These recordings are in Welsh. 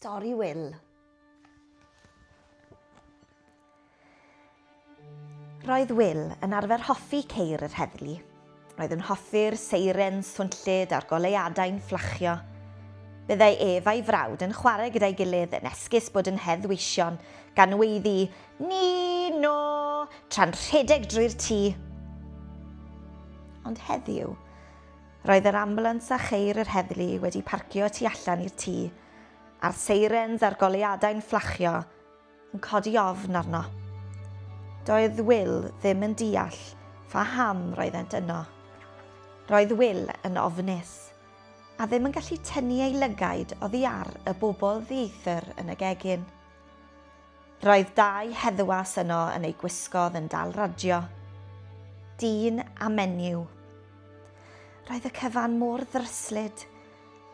Stori Wil. Roedd Wil yn arfer hoffi ceir yr heddlu. Roedd yn hoffi'r seiren swnllyd a'r goleuadau'n fflachio. Byddai ef a'i frawd yn chwarae gyda'i gilydd yn esgus bod yn hedd weision gan weiddi ni no tra'n rhedeg drwy'r tŷ. Ond heddiw, Roedd yr ambiwlans a cheir yr heddlu wedi parcio tu allan i'r tŷ, a'r seirens a'r goleuadau'n fflachio, yn codi ofn arno. Doedd Will ddim yn deall pha ham roeddent yno. Roedd Will yn ofnus, a ddim yn gallu tynnu ei lygaid oddi ar y bobl ddieithr yn y gegin. Roedd dau heddwas yno yn eu gwisgoedd yn dal radio. Dyn a menyw. Roedd y cyfan mor ddryslyd.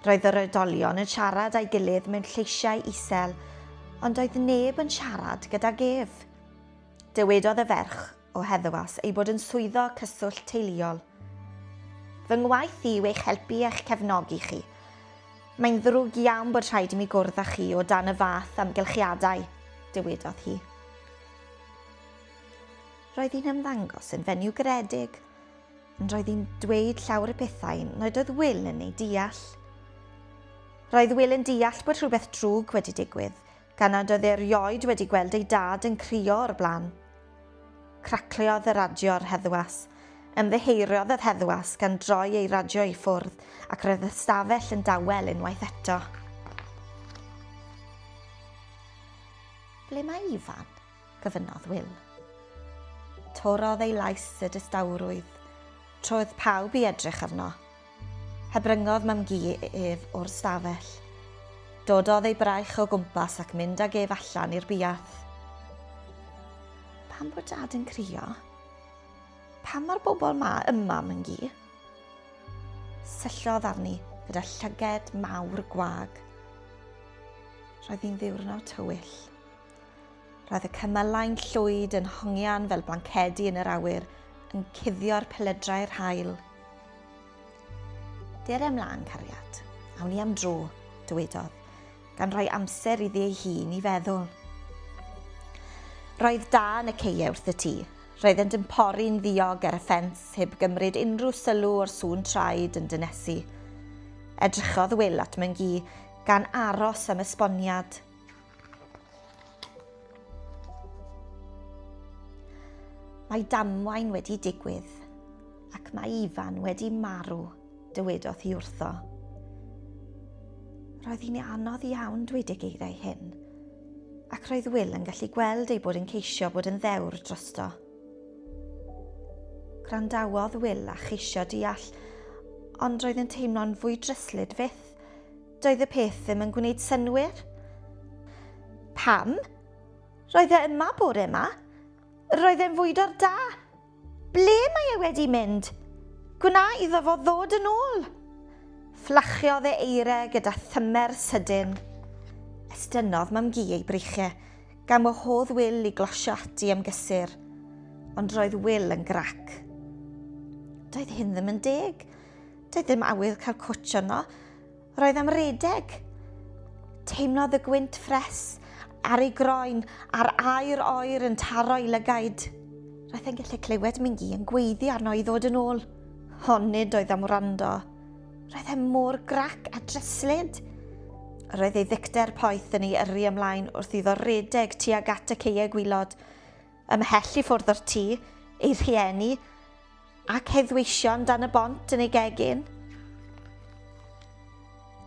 Roedd yr oedolion yn siarad â'i gilydd mewn lleisiau isel, ond oedd neb yn siarad gydag ef. Dywedodd y ferch o heddwas ei bod yn swyddog cyswllt teuluol. Fy ngwaith i yw eich helpu a'ch cefnogi chi. Mae'n ddrwg iawn bod rhaid i mi gwrdd â chi o dan y fath amgylchiadau, dywedodd hi. Roedd hi'n ymddangos yn fenyw garedig, ond roedd hi'n dweud llawr y pethau nad oedd Will yn ei deall. Roedd Will yn deall bod rhywbeth drwg wedi digwydd, Gan nad oedd erioed wedi gweld ei dad yn crio o'r blaen. Cracliodd y radio ar heddwas. Ymddiheuriodd yr heddwas gan droi ei radio i ffwrdd ac roedd y stafell yn dawel unwaith eto. Ble mae Ifan? gofynnodd Wil. Torodd ei lais y distawrwydd, troedd pawb i edrych arno. Hebryngodd mam-gu ef o'r stafell. Dododd ei braich o gwmpas ac mynd ag ef allan i'r buarth. Pam bod dad yn crio? Pam mae'r bobl ma ym mam-gu? Syllodd arni gyda llyged mawr gwag. Roedd hi'n ddiwrnod tywyll. Roedd y cymylau'n llwyd yn hongian fel blancedi yn yr awyr, yn cuddio'r peledrau'r haul. Dere ymlaen, cariad. Awn ni am dro, dywedodd, gan roi amser iddi ei hun i feddwl. Roedd da yn y ceie wrth y tŷ. Roeddent yn pori'n ddiog ar y ffens, heb gymryd unrhyw sylw o'r sŵn traed yn dynesu. Edrychodd Wil at Myngi, gan aros am esboniad. Mae damwain wedi digwydd, ac mae Ifan wedi marw, dywedodd hi wrtho. Roedd hi'n anodd iawn dweud y geiriau hyn, ac roedd Will yn gallu gweld ei bod yn ceisio bod yn ddewr drosto. Gwrandawodd Will a cheisio deall, ond roedd yn teimlo'n fwy dryslyd fyth, Doedd y peth ddim yn gwneud synnwyr. Pam? Roedd e yma bore yma. Roedd e'n fwydo'r da. Ble mae e wedi mynd? Gwna iddo fo ddod yn ôl! Fflachiodd e eire gyda thymer sydyn. Estynnodd mam gi ei breichiau, gan wahodd Wil i glosio ati am gysur. Ond roedd Wil yn grac. Doedd hyn ddim yn deg. Doedd ddim awydd cael cwtsh yno. Roedd am redeg. Teimlodd y gwynt ffres ar ei groen a'r aer oer yn taro i lygaid. Roedd e'n gallu clywed Mingi yn gweiddi arno i ddod yn ôl. Ond nid oedd am wrando. Roedd e mor grac a dryslyd. Roedd ei ddicter poeth yn ei yrru ymlaen wrth iddo redeg tuag at y ceie gwylod. Ymhell i ffwrdd o'r tŷ, ei rhieni, Ac heddweision dan y bont yn ei gegin.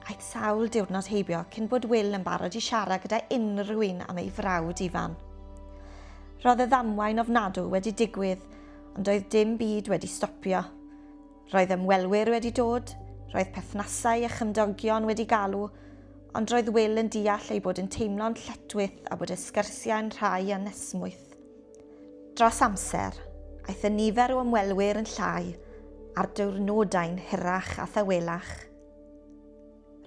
Aeth sawl diwrnod heibio cyn bod Will yn barod i siarad gyda unrhyw un am ei frawd Ifan. Roedd y ddamwain ofnadw wedi digwydd, ond doedd dim byd wedi stopio. Roedd ymwelwyr wedi dod, roedd perthnasau a chymdogion wedi galw, ond roedd Will yn deall ei bod yn teimlo'n lletwyth a bod y sgyrsiau'n rhai anesmwyth. Dros amser, aeth y nifer o ymwelwyr yn llai ar diwrnodau'n hirach a thawelach.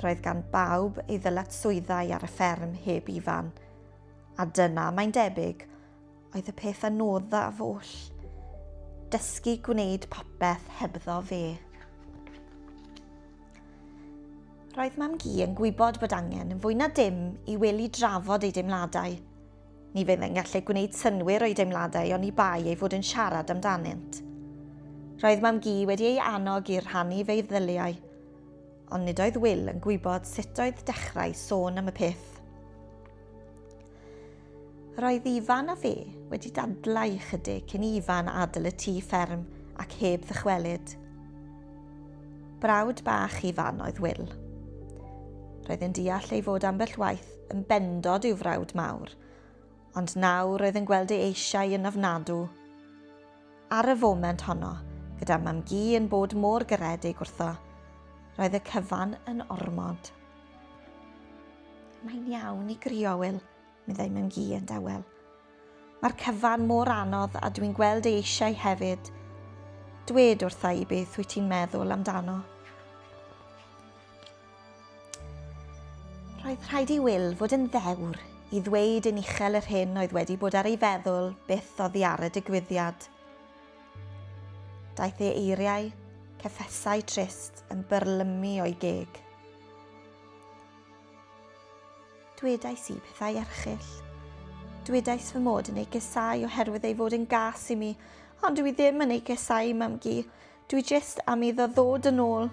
Roedd gan bawb ei ddylatswyddau ar y fferm heb Ifan, a dyna, mae'n debyg, oedd y peth anoddaf oll, dysgu gwneud popeth hebddo fe. Roedd Mam Gi yn gwybod bod angen yn fwy na dim i wely drafod ei deimladau, Ni fydd yn gallu gwneud synnwyr o'i deimladau oni bai ei fod yn siarad amdanynt. Roedd Mam-gu wedi ei annog i rhannu feiddyliau, ond nid oedd Wil yn gwybod sut oedd dechrau sôn am y peth. Roedd Ifan a fe wedi dadlau ychydig cyn i Ifan adl y tŷ fferm ac heb ddychwelyd. Brawd bach Ifan oedd Wil. Roedd yn deall ei fod ambell waith Yn bendod i'w frawd mawr, ond nawr oedd yn gweld ei eisiau yn ofnadw. Ar y foment honno, gyda Mam-gu yn bod mor garedig wrtho, roedd y cyfan yn ormod. Mae'n iawn i grio, Wil, meddai Mam-gu yn dawel. Mae'r cyfan mor anodd a dwi'n gweld ei eisiau hefyd. Dwed wrtha i beth wyt ti'n meddwl amdano. Roedd rhaid i Will fod yn ddewr i ddweud yn uchel yr hyn oedd wedi bod ar ei feddwl byth oddi ar y digwyddiad. Daeth ei eiriau, ceffesau trist yn byrlymu o'i geg. Dwedais i pethau erchyll. Dwedais fy mod yn ei gesau oherwydd ei fod yn gas i mi, ond dwi ddim yn ei gesau i mam-gu. Dwi jyst am iddo ddod yn ôl.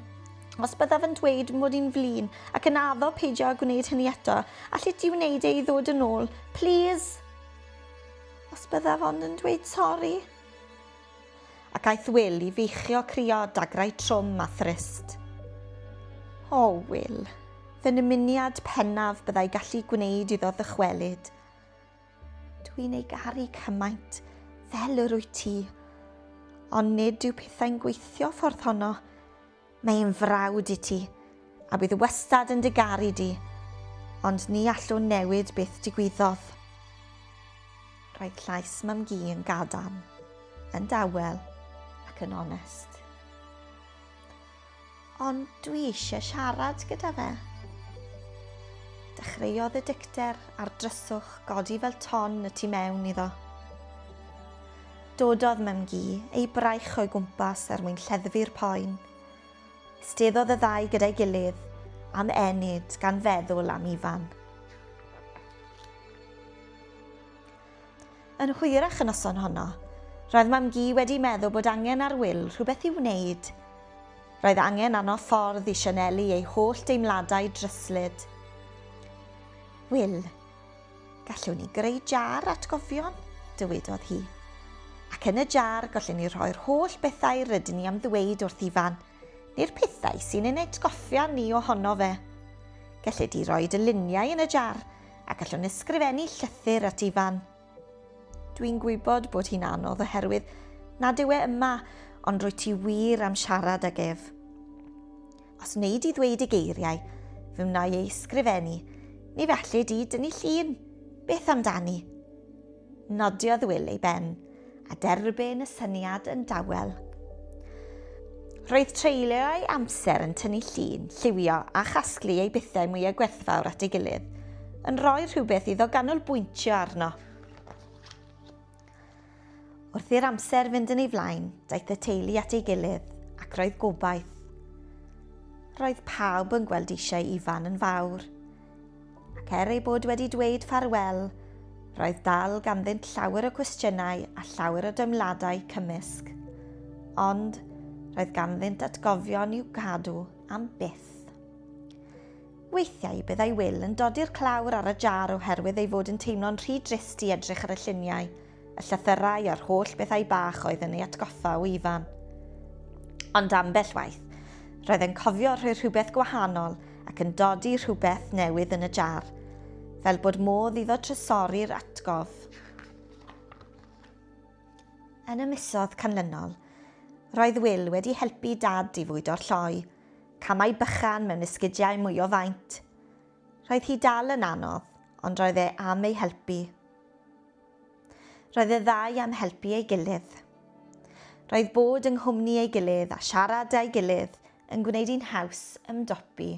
Os byddaf yn dweud mod i'n flin ac yn addo peidio â gwneud hynny eto, allet ti wneud e i ddod yn ôl, plîs? Os byddaf ond yn dweud sori. Ac aeth Wil i feichio crio dagrau trwm a thrist. O, Wil, fy nymuniad pennaf byddai gallu gwneud iddo ddychwelyd. Dw i'n ei garu cymaint, fel yr wyt ti. Ond nid yw pethau'n gweithio ffordd honno. Mae hi'n frawd i ti, a bydd wastad yn dy garu di, ond ni allwn newid beth digwyddodd. Roedd llais Mam-gu yn gadarn, yn dawel ac yn onest. Ond dwi eisiau siarad gyda fe. Dechreuodd y dicter a'r dryswch godi fel ton y tu mewn iddo. Dododd Mem-gu ei braich o'i gwmpas er mwyn lleddfu'r poen. Isteddodd y ddau gyda'i gilydd am enyd gan feddwl am Ifan. Yn hwyrach y noson honno, roedd Mam-gu wedi meddwl bod angen ar Wil rhywbeth i'w wneud. Roedd angen arno ffordd i sianelu ei holl deimladau dryslyd. Wil, Gallwn ni greu jar atgofion, dywedodd hi. Ac yn y jar gallwn ni rhoi'r holl bethau rydyn ni am ddweud wrth Ifan, neu'r pethau sy'n ein atgoffa ni ohono fe. Gellid di roi dy luniau yn y jar a gallwn ysgrifennu llythyr at Ifan. Dwi'n gwybod bod hi'n anodd oherwydd nad yw e yma, ond rwy ti wir am siarad ag ef. Os wneud i ddweud y geiriau, fe wna'i ei sgrifennu, ni felly di dynnu llun, beth amdani? Nodiodd Wil ei ben, a derbyn y syniad yn dawel. Roedd treulio ei amser yn tynnu llun, lliwio a chasglu ei bethau mwyaf gwerthfawr at ei gilydd, yn rhoi rhywbeth iddo ganolbwyntio arno. Wrth i'r amser fynd yn ei flaen, daeth y teulu at ei gilydd, ac roedd gobaith. Roedd pawb yn gweld eisiau Ifan yn fawr. Ac er ei bod wedi dweud ffarwel, roedd dal ganddynt llawer o cwestiynau a llawer o deimladau cymysg. Ond roedd ganddynt atgofion i'w cadw am byth. Weithiau byddai Wil yn dodi'r clawr ar y jar oherwydd ei fod yn teimlo'n rhy drist i edrych ar y lluniau, y llythyrau a'r holl bethau bach oedd yn ei atgoffa o Ifan. Ond ambell waith, roedd e'n cofio rhoi rhywbeth gwahanol ac yn dodi rhywbeth newydd yn y jar, fel bod modd iddo trysori'r atgof. Yn y misoedd canlynol, roedd Wil wedi helpu Dad i fwydo'r lloi, camau bychan mewn esgidiau mwy o faint. Roedd hi dal yn anodd, ond roedd e am ei helpu. Roedd y ddau am helpu ei gilydd. Roedd bod yng nghwmni ei gilydd a siarad â'i gilydd yn gwneud hi'n haws ymdopi.